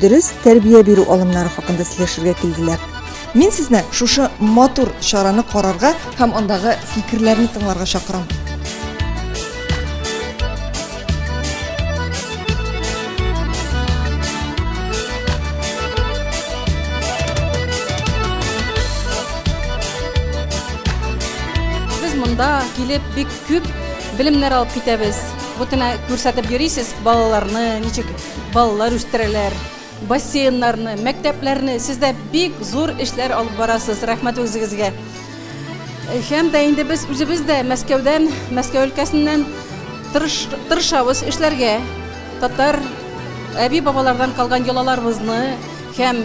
Дөрес тәрбия бирү алымнары хакында сөйләшергә килделәр. Мин сезне шушы матур чараны карарга һәм андагы фикерләрне тыңларга чакырам. Без монда килеп бик күп белемнәр алып китәбез. Бу тенә күрсәтеп йөрисез балаларны, ничек Балалар үстерәләр, бассейннарны, мәктәпләрне. Сез дә бик зур эшләр алып барасыз. Рәхмәт үзегезгә. Һәм дә инде без үзебез дә Мәскәүдән, Мәскәү өлкәсеннән тырыш, тырышабыз эшләргә. Татар әби-бабалардан калган йолаларыбызны һәм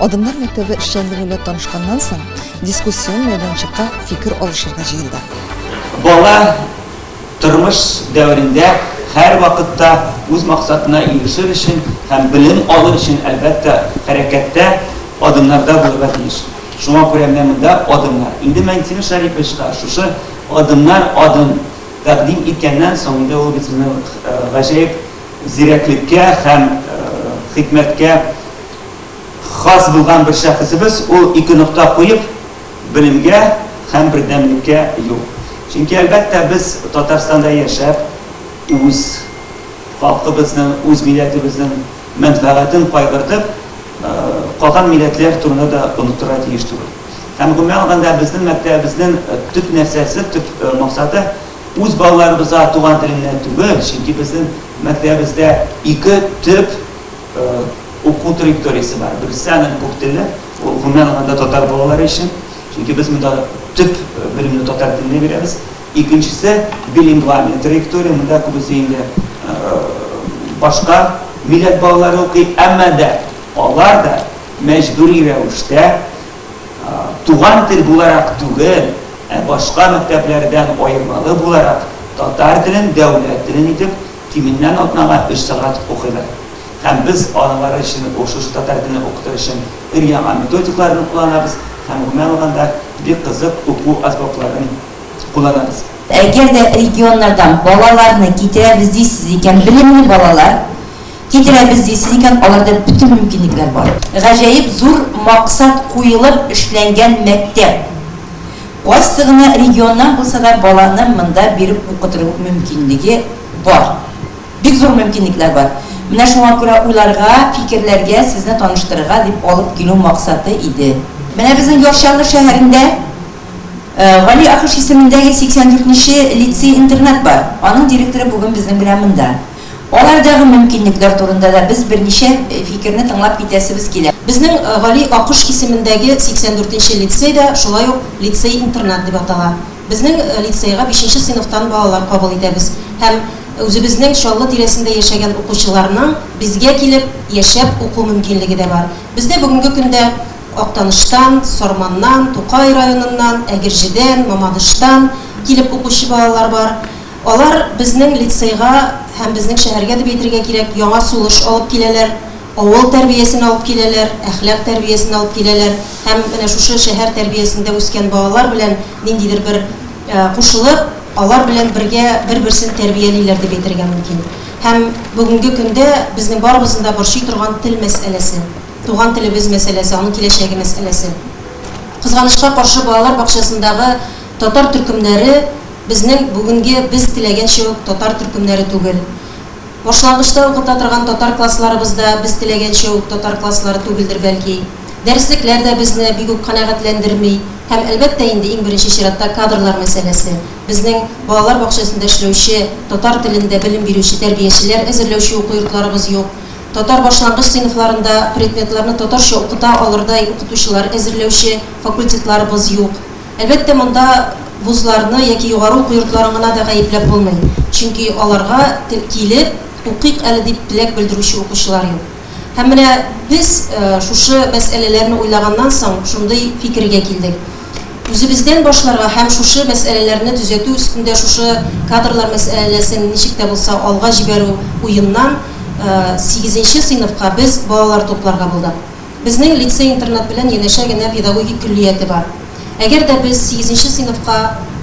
Адымнар мәктәбе эшчәнлеге белән танышканнан соң, дискуссион мәйданчыкка фикер алышырга җыелды. Бала тормыш дәверендә һәрвакытта үз максатына ирешер өчен һәм белем алыр өчен, әлбәттә, хәрәкәттә, адымнарда булырга тиеш. Шуңа күрә менә монда адымнар. Инде Мәнтимер Шәриповичка шушы адымнар адым тәкъдим иткәннән соң, инде ул бит сезне гаҗәеп зирәклеккә һәм хикмәткә хас булган бер шәхесебез, ул ике нокта куеп, белемгә һәм бердәмлеккә юк. Чөнки, әлбәттә, без Татарстанда яшәп, үз халкыбызның, үз милләтебезнең мәнфәгатен кайгыртып, калган милләтләр турында да оныттырга тиеш түгел. Һәм, гомумән алганда, безнең мәктәбебезнең төп нәрсәсе, төп максаты, үз балаларыбызга туган телендә түгел, чөнки безнең мәктәбебездә ике төп, Уку траекториясе бар. Берсе аның күп телле, ул гомумән алганда татар балалары өчен, чөнки без монда төп белемне татар телендә бирәбез. Икенчесе билингвальный траектория, монда күбесе инде башка милләт балалары укый, әмма дә алар да мәҗбүри рәвештә туган тел буларак түгел, ә башка мәктәпләрдән аермалы буларак татар телен дәүләт телен итеп Кимендән атнага өч сәгать укыйлар. Һәм без алары өчен ошушы татар телен укытыр өчен өр-яңа методикларны кулланабыз һәм гомумән алганда бик кызык уку азбапларын кулланабыз. Әгәр дә регионнардан балаларны китерәбез дисез икән, белемле балалар китерәбез дисез икән, аларда бөтен мөмкинлекләр бар. Гаҗәеп зур максат куелып эшләнгән мәктәп. Кайсы гына регионнан булса да баланы монда биреп укытыру мөмкинлеге бар. Бик зур мөмкинлекләр бар. Менә шуңа күрә уйларга, фикерләргә, сезне таныштырырга дип алып килү максаты иде. Менә безнең Яр Чаллы шәһәрендә Гали Ахыш исемендәге 84 нче лицей-интернат бар. Аның директоры бүген безнең белән монда. Алардагы мөмкинлекләр турында да без берничә фикерне тыңлап китәсебез килә. Безнең Гали Аккош исемендәге 84 нче лицей да шулай ук лицей-интернат дип атала. Безнең лицейга бишенче сыйныфтан балалар кабул итәбез һәм үзебезнең Чаллы тирәсендә яшәгән укучыларның безгә килеп яшәп уку мөмкинлеге дә бар. Бездә бүгенге көндә Актаныштан, Сарманнан, Тукай районыннан, Әгерҗедән, Мамадыштан килеп укучы балалар бар. Алар безнең лицейга һәм безнең шәһәргә дип әйтергә кирәк, яңа сулыш алып киләләр, авыл тәрбиясен алып киләләр, әхлак тәрбиясен алып киләләр һәм менә шушы шәһәр тәрбиясендә үскән балалар белән ниндидер бер кушылып, алар белән бергә бер-берсен тәрбиялиләр дип әйтергә мөмкин. Һәм бүгенге көндә безнең барыбызны да борчый торган тел мәсьәләсе, туган телебез мәсьәләсе, аның киләчәге мәсьәләсе. Кызганычка каршы, балалар бакчасындагы Татар төркемнәре безнең бүгенге без теләгәнчә үк татар төркемнәре түгел. Башлангычта укыта торган татар классларыбыз да без теләгәнчә үк татар класслары түгелдер бәлки. Дәреслекләр дә безне бик үк канәгатьләндерми һәм, әлбәттә инде, иң беренче чиратта кадрлар мәсьәләсе. Безнең балалар бакчасында эшләүче, татар телендә белем бирүче тәрбиячеләр әзерләүче уку йортларыбыз юк. Татар башлангыч сыйныфларында предметларны татарча укыта алырдай укытучылар әзерләүче факультетларыбыз юк. Әлбәттә, монда вузларны яки югары уку йортларын гына да гаепләп булмый, чөнки аларга килеп укыйк әле дип теләк белдерүче укучылар юк. Һәм менә без шушы мәсьәләләрне уйлаганнан соң, шундый фикергә килдек. Үзебездән башларга һәм шушы мәсьәләләрне төзәтү өстендә шушы кадрлар мәсьәләләсен ничек тә булса алга җибәрү уеннан сигезенче сыйныфка без балалар тупларга булдык. Безнең лицей-интернат белән янәшә генә педагогик көллияте бар. Әгәр дә без сигезенче сыйныфка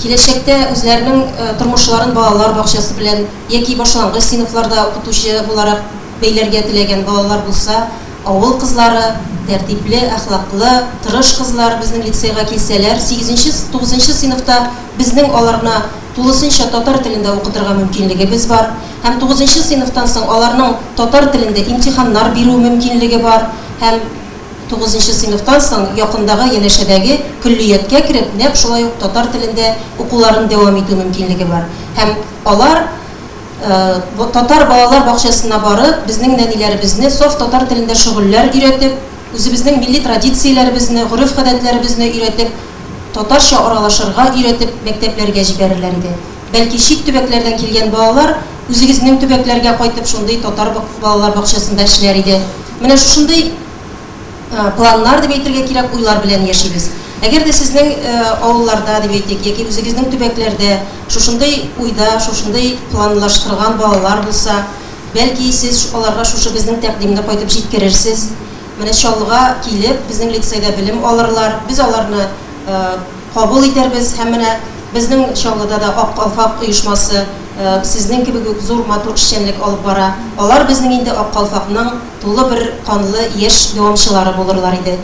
киләчәктә үзләренең тормышларын балалар бакчасы белән яки башлангыч сыйныфларда укытучы буларак бәйләргә теләгән балалар булса, авыл кызлары, тәртипле, әхлаклы, тырыш кызлар безнең лицейга килсәләр, сигезенче, тугызынчы сыйныфта безнең аларны тулысынча татар телендә укытырга мөмкинлегебез бар. һәм тугызынчы сыйныфтан соң аларның татар телендә имтиханнар бирү мөмкинлеге бар һәм тугызынчы сыйныфтан соң якындагы янәшәдәге көллияткә кереп нәкъ шулай ук татар телендә укуларын дәвам итү мөмкинлеге бар һәм алар татар балалар бакчасына барып безнең нәниләребезне саф татар телендә шөгыльләр өйрәтеп үзебезнең милли традицияләребезне гореф-гадәтләребезне өйрәтеп татарча аралашырга өйрәтеп мәктәпләргә җибәрерләр иде. Бәлки чит төбәкләрдән килгән балалар үзегезнең төбәкләргә кайтып шундый татар балалар бакчасында эшләр иде. Менә шушындый планнар дип әйтергә кирәк, уйлар белән яшибез. Әгәр дә сезнең авылларда дип әйтик, яки үзегезнең төбәкләрдә шушындый уйда, шушындый планлаштырган балалар булса, бәлки сез аларга шушы безнең тәкъдимне кайтып җиткерерсез. Менә Чаллыга килеп, безнең лицейда белем алырлар, без аларны кабул итәрбез һәм менә безнең Чаллыда да Ак калфак оешмасы сезнең кебек үк зур матур эшчәнлек алып бара. Алар безнең инде Ак калфакның тулы бер канлы яшь дәвамчылары булырлар иде.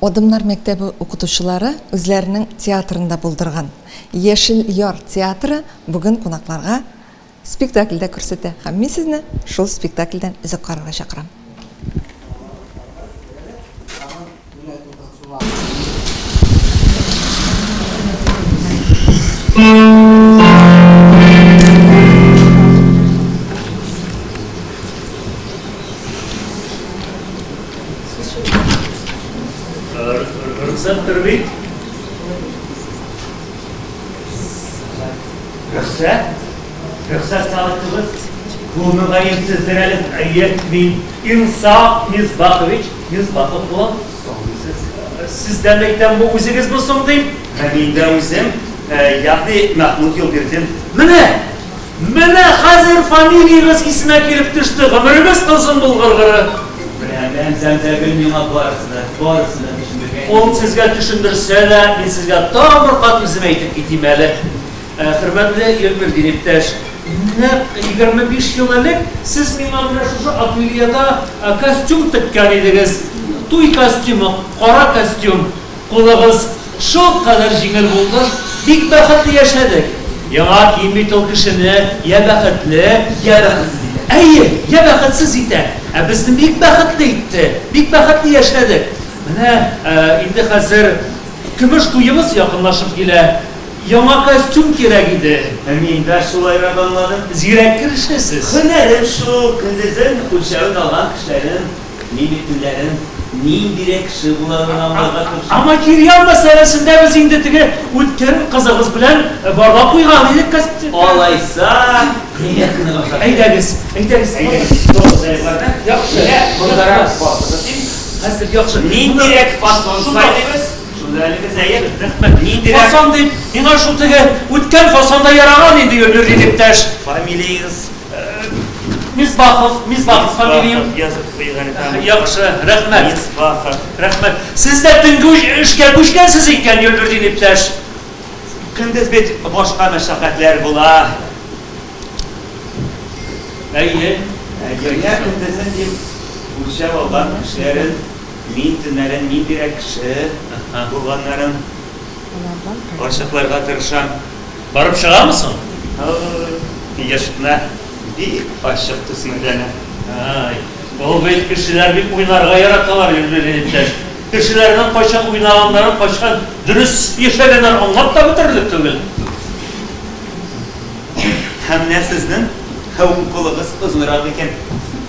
Адымнар мәктәбе укытучылары үзләренең театрында булдырган Яшел яр театры бүген кунакларга Спектакльдә күрсәтә һәм мин сезне шул спектакльдән өзек карарга чакырам. Рөхсәттер бит? Рөхсәт? Рөхсәт сарыкчыбыз, бу мөгаенсездер әле, әйе, мин Инсаф Мисбахович Мисбахов булам, соңгысыз. Сездән әйтәм, бу үзегезме соң, дим. Ә мин дә үзем, ягъни Мәхмүт Юлбирдин. Менә! Менә хәзер фамилиягез исемә килеп төште, гомерегез озын булгыр гыры! Беләмен, Зәмзәгөл миңа барысын да, барысын да төшендергән иде. Ул сезгә төшендерсә дә, мин сезгә тагын бер кат үзем әйтеп китим әле. Хөрмәтле Ильмир иптәш, нәкъ егерме биш ел элек сез миңа менә шушы ательеда костюм теккән идегез. Туй костюмы, кара костюм. Кулыгыз шулкадәр җиңел булды, бик бәхетле яшәдек. Яңа кием бит ул кешене йә бәхетле, йә бәхетсез итә. Әйе, йә бәхетсез итә. Ә безне бик бәхетле итте, бик бәхетле яшәдек. Менә инде хәзер көмеш туебыз якынлашып килә. Яңа костюм кирәк иде. Ә мин дә шулайрак аңладым, зирәк керешәсез. Һөнәрем шул, көндезен үлчәвен алган кешеләрнең мин бит төнләрен ниндирәк кеше буларын аңларга тырышам. Ә материал мәсьәләсендә без инде теге үткен кызыгыз белән барлап куйган идек костюмны. Алайса, примерканы башлап җибәрик. Әйдәгез, әйдәгез. Әйдәгез, торыгыз әле барда. Яхшы. Менә мондарак басыгыз, дим. Хәзер яхшы. Ниндирәк фасон сайлыйбыз? Сүзләрегез әйе, рәхмәт. Ниндирәк? Хасан дип, миңа шул теге үткән Хасан да яраган инде, Гөлнур иптәш. Фамилияегез? Мисбахов, Мисбахов фамилиям. Мисбахов, язып куйыйк әле тагын. Яхшы, рәхмәт. Мисбахов. Рәхмәт. Сез дә төнге эшкә күчкәнсез икән, Гөлнурдин иптәш. Көндез бит башка мәшәкатьләр була. Әйе. Әйе, көндезен дип үлчәп алган эшләрен Мин төннәрен ниндирәк кеше булганнарын ачыкларга тырышам. Барып чыгамы соң? Һай, яшь кына бик ачык төсмерләнә. Һай, ул бит кешеләр бик уйнарга яраталар, Людмила иптәш. Кешеләрнең кайчан уйнаганнарын, кайчан дөрес яшәгәннәрен аңлап та бетерерлек түгел. Һәм менә сезнең һәм кулыгыз озынрак икән.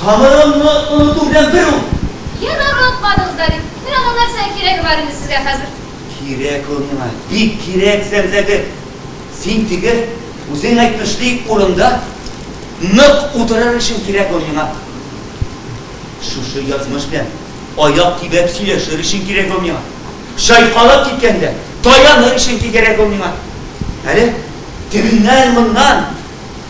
Тамырыңны оныту белән бер ул. Ен онытмадыгыз да бит. Мин аның нәрсәгә кирәге бар инде сезгә хәзер? Кирәк ул миңа, бик кирәк, Зәмзәгөл. Син теге, үзең әйтмешли, урында нык утырыр өчен кирәк ул миңа. Шушы язмыш белән аяк төбәп сөйләшер өчен кирәк ул миңа. Чайкалып киткәндә таяныр өчен кигерәк ул миңа. Әле тегеннән-моннан.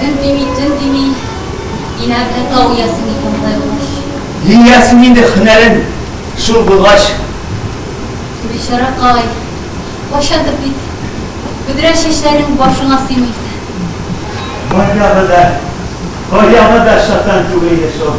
Көн дими, төн дими, инәмле тау иясе микән болай булгач? Иясен инде, һөнәрен шул булгач. Бичаракай, кайчандыр бит бөдрә чәчләрең башыңа сыймый иде. Баягы да, баягы да чатан түгел иде шул.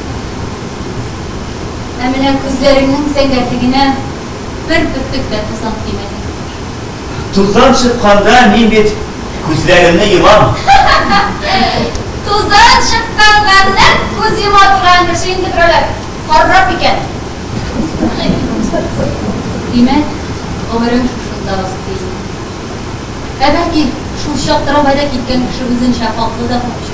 Ә менә күзләреңнең сәнгатьлегенә бер бөртек тә тузан тимәде. Тузан чыкканда мин бит күзләремне йомам. Тузан чыкканга нәкъ күз йома торган кеше инде берәүләр каррак икән. Димәк, гомерең шушында узды инде. Ә бәлки, шул чактырабайда киткән кеше үзенчә хаклы да булып чыкты.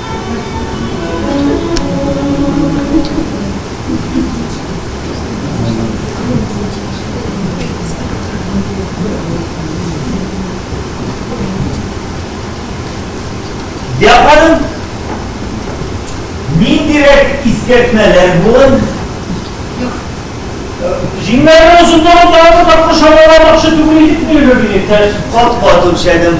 Япаным, мин дирек искертмәләр булын. Җиңнәрне озынлыгын тагы тапкыр шамаламакчы түгел идек милеге директор. Кат-кат үлчәдем.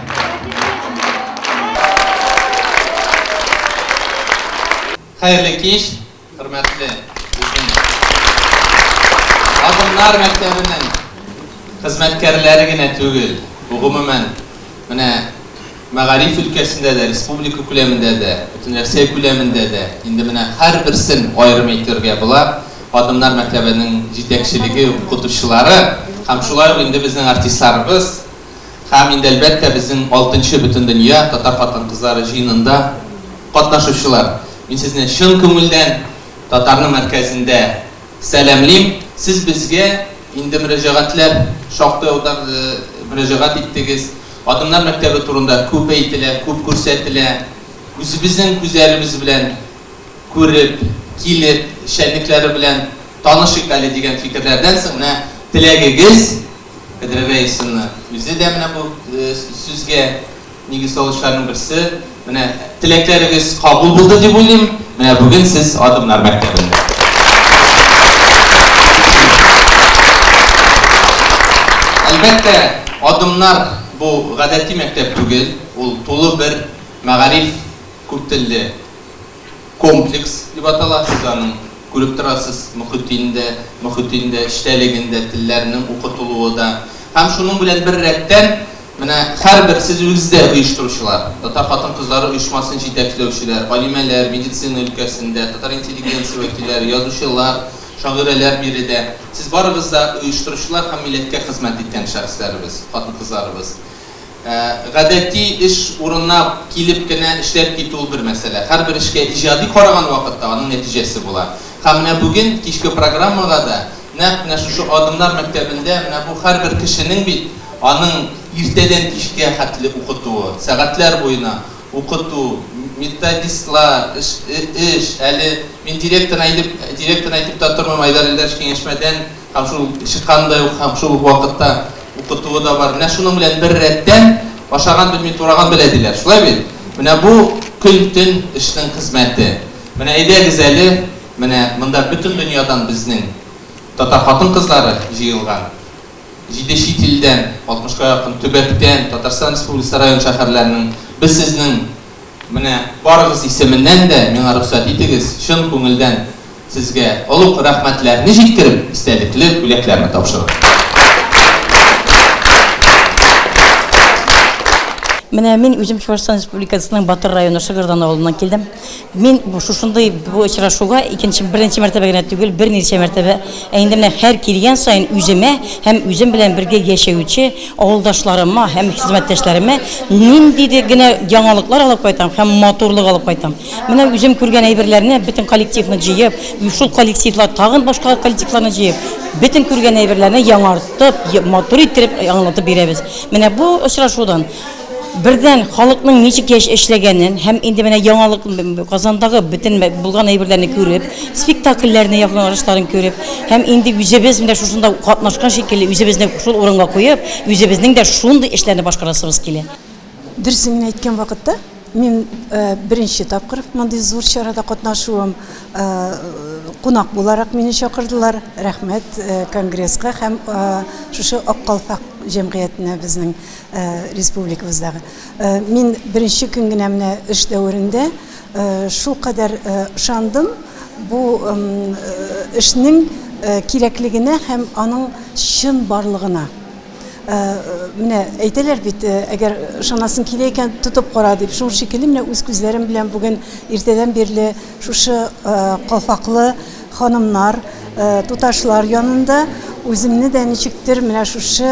Хәерле кич, хөрмәтле безнең Адымнар мәктәбенең хезмәткәрләре генә түгел, бу гомумән менә мәгариф өлкәсендә дә, республика күләмендә дә, Бөтенрәсәй күләмендә дә инде менә һәрберсен аерым әйтергә була, Адымнар мәктәбенең җитәкчелеге, укытучылары һәм шулай ук инде безнең артистларыбыз. һәм инде әлбәттә безнең алтынчы Бөтендөнья татар хатын-кызлары җыенында катнашучылар! Мин сезне чын күңелдән татарның мәркәзендә сәламлим! Сез безгә инде мөрәҗәгатьләр шактый аударды, мөрәҗәгать иттегез. Адымнар мәктәбе турында күп әйтелә, күп күрсәтелә. Үзебезнең күзләребез белән күреп, килеп, эшчәнлекләре белән танышыйк әле дигән фикерләрдән соң, менә теләгегез Эдельвейсны үзе дә менә бу сүзгә нигез салучыларның берсе. Менә теләкләрегез кабул булды дип уйлыйм. Менә бүген сез Адымнар мәктәбендә. Әлбәттә, Адымнар бу гадәти мәктәп түгел, ул тулы бер мәгариф күптелле. комплекс дип атала, сез аның, күреп торасыз, мөхитен дә, мөхитен дә, эчтәлеген дә, телләрнең укытылуы да. Һәм шуның белән бер рәттән, менә һәрбер, сез үгез дә оештыручылар, татар хатын-кызлары оешмасын җитәкләүчеләр, галимәләр, медицина өлкәсендә, татар интеллигенция вәкилләре, язучылар, шагыйрәләр биредә. Сез барыгыз да оештыручылар һәм милләткә хезмәт иткән шәхесләребез, хатын-кызларыбыз. Гадәти эш урынына килеп кенә эшләп китү ул бер мәсьәлә. Һәрбер эшкә иҗади караган вакытта аның нәтиҗәсе була. Һәм менә бүген кичке программага да нәкъ менә шушы Адымнар мәктәбендә менә бу һәрбер кешенең бит аның иртәдән кичкә хәтле укытуы, сәгатьләр буена укыту, методистлар, эш, эш, әле мин директорына әйтеп, директорына әйтеп тә тормыйм, Айдар Илдарович киңәшмәдән Һәм шул чыкканы да юк, һәм шул ук вакытта укытуы да бар. Менә шуның белән бер рәттән ашаган белми, тураган белә, диләр. Шулай бит? Менә бу көн-төн эшнең хезмәте. Менә әйдәгез әле, менә монда бөтен дөньядан безнең татар хатын-кызлары җыелган. Җиде чит илдән, алтмышка якын төбәктән, Татарстан Республикасы район-шәһәрләренең. Без сезнең. Менә барыгыз исеменнән дә миңа рөхсәт итегез чын күңелдән сезгә олуг рәхмәтләрне җиткереп, истәлекле бүләкләрне тапшыру. Менә мин үзем Чувашстан Республикасының Батыр районы Шыгырдан авылыннан килдем. Мин шушындый бу очрашуга икенче беренче мәртәбә генә түгел, берничә мәртәбә, ә инде менә һәр килгән саен үземә һәм үзем белән бергә яшәүче Авылдашларыма һәм хезмәттәшләремә ниндидер генә яңалыклар алып кайтам һәм матурлык алып кайтам. Менә үзем күргән әйберләрне бөтен коллективны җыеп, шул коллективлар тагын башка коллективларны җыеп, бөтен күргән әйберләрне яңартып, матур иттереп аңлатып бирәбез. Менә бу очрашудан Бердән, халыкның ничек яшь эшләгәнен һәм инде менә яңалык Казандагы бөтен булган әйберләрне күреп, спектакльләрне якланышларын күреп һәм инде үзебез менә шушында катнашкан шикелле, үзебезне шул урынга куеп, үзебезнең дә шундый эшләрне башкарасыбыз килә. Дөресен генә әйткән вакытта, мин беренче тапкыр мондый зур чарада катнашуым. Кунак буларак мине чакырдылар. Рәхмәт Конгресска һәм шушы Ак калфак җәмгыятенә безнең. республикабызда мин беренче көн генә менә эш дәверендә шулкадәр ышандым бу эшнең кирәклегенә һәм аның чын барлыгына менә әйтәләр бит әгәр ышанасың килә икән тотып кара дип шул шикелле менә үз күзләрем белән бүген иртәдән бирле шушы калфаклы Ханымнар, туташлар янында үземне дә ничектер менә шушы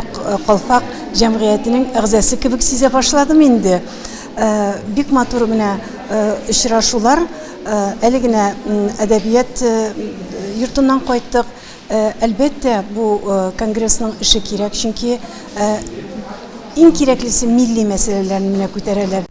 Ак калфак җәмгыятенең әгъзасы кебек сизә башладым инде. Бик матур менә очрашулар. Әле генә әдәбият йортыннан кайттык. Әлбәттә, бу конгрессның эше кирәк, чөнки иң кирәклесе милли мәсьәләләрне менә күтәрәләр.